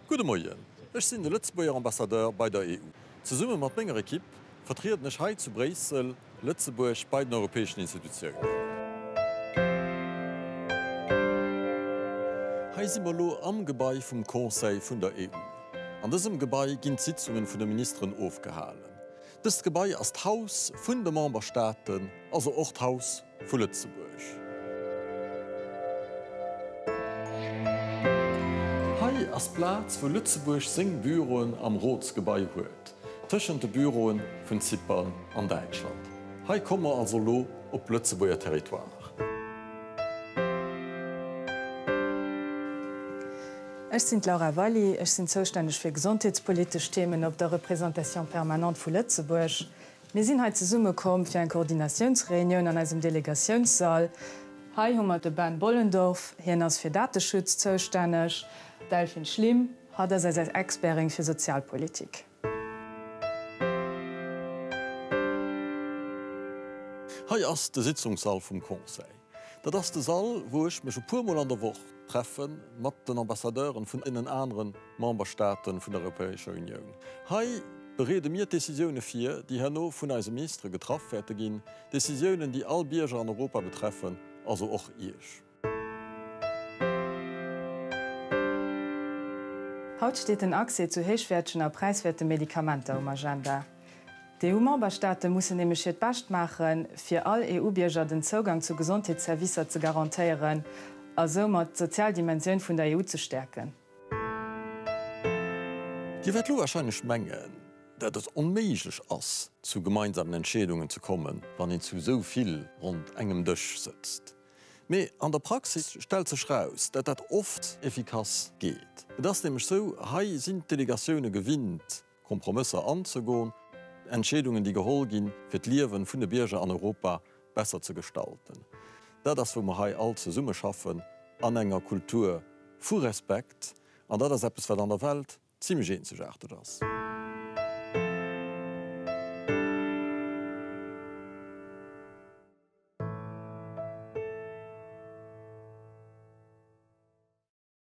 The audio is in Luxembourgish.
Gudde Moien, ech sinn de Lëtzebuerger Ambassadeur bei der EU. Zesumme mat menger Ekipp vertrieden ech hei zu Bréissel Lëtzebuerg bei den europäeschen Institutiounen. Hei si mer elo am Gebai vum Conseil vun der EU. An dësem Gebai ginn d'Sitzungen vun de Ministeren ofgehalen. Dëst Gebai ass d'Haus vun de Memberstaaten, also och d'Haus vu Lëtzebuerg. Hei ass d'Plaz wou Lëtzebuerg seng Büroen am Rotsgebai huet, tëschent de Büroen vun Zypern an Däitschland. Hei komme mer also elo op Lëtzebuerger Territoire. Ech sinn d'Laura Valli, ech sinn zoustänneg fir gesondheetspolitesch Themen op der Représentation permanente vu Lëtzebuerg. Mir sinn hei zesumme komm fir eng Koordinatiounsreunioun an eisem Delegatiounssall. Hei hu mer de Ben Bollendorff, hien ass fir Dateschutz zoustänneg, d'Delphine Schlim, hatt ass eis Expertin fir Sozialpolitik. Hei ass de Sitzungssall vum Conseil. Dat ass de Sall, wou ech mech e puer Mol an der Woch treffe mat den Ambassadeuren vun deenen anere Memberstaate vun der Europäescher Unioun. Hei bereede mir d'Decisioune vir, déi herno vun eise Ministere getraff wäerte ginn, Decisiounen, déi all Bierger an Europa betreffen, also och Iech. Haut steet den Accès zu héichwäertegen a präiswäerte Medikamenter um Agenda. D'EU-Memberstaate mussen nämlech hiert Bescht maache fir all EU-Bierger den Zougang zu Gesondheetsservicer ze garantéieren a soumat d'sozial Dimensioun vun der EU ze stäerken. Dir wäert elo warscheinlech mengen, dat et onméiglech ass, zu gemeinsamen Entscheedungen ze kommen, wann een zu esou vill ronnt engem Dësch sëtzt. Mee an der Praxis stellt sech raus, dat dat oft efficace geet. Et ass nämlech esou, hei sinn d'Delegatioune gewinnt, Kompromësser anzegoen, Entscheedungen, déi geholl ginn, fir d'Liewe vun de Bierger an Europa besser ze gestalten. Dat ass, wou mer hei all zesummeschaffen an enger Kultur vu Respekt, an dat ass eppes, wat an der Welt zimlech eenzegaarteg ass.